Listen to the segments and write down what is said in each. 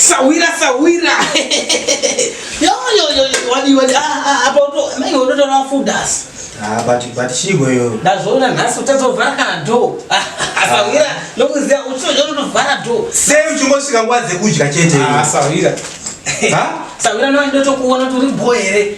sahwira sahwira yoyoyoyowadioapaototoraa fudas batichigoyo ndazvoona nhasi utazovhara kana do asahwira nokuziva uchizojonotovhara do sei uchingosvika nguva dzekudya chete sahwira sahwira noandotokuona tori bho here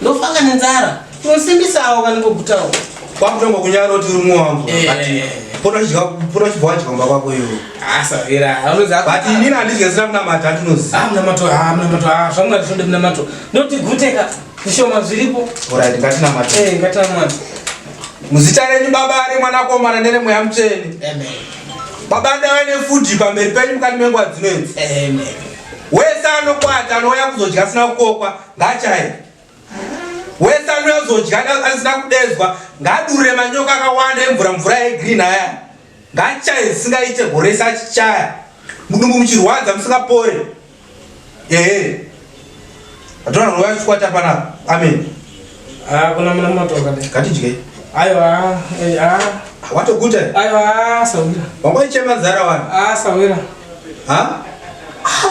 Ndofunga nenzara. Unosimbisa awo vanongogutawo. Kwakutanga kunyara kuti uri mwangu. Pona chidya pona chibwa chidya mba kwako iwe. Asa vera. Anoza. But inini andidye sina kuna mata ndinozi. Ah mna mato ah mna mato ah zvangu ndisonde mna mato. Ndoti guteka. Zvishoma zviripo. Alright ngatina mato. Eh ngatina mato. Muzita renyu baba ari mwana komana nere mweya mtsveni. Amen. Baba ndawe ne food pamberi penyu mukati mengwa dzinenzi. Amen. Wesa anokwata anouya kuzodya sina kukokwa. Ngachaye. Wese anouya kuzodya asina kudedzwa ngadure manyoka akawanda emvura mvura yegreen aya. Ngachaye zvisingaite gore rese achichaya. Mudumbu muchirwadza musingapore. Ehe. Atona roya chikwata pana. Amen. Ah, kuna mwana matoka. Katidye. Ayo ah, eh, ah. Watoguta? Ayo ah, sawira. Wangoichema zara wana. Ah, sawira. Ha? Ah.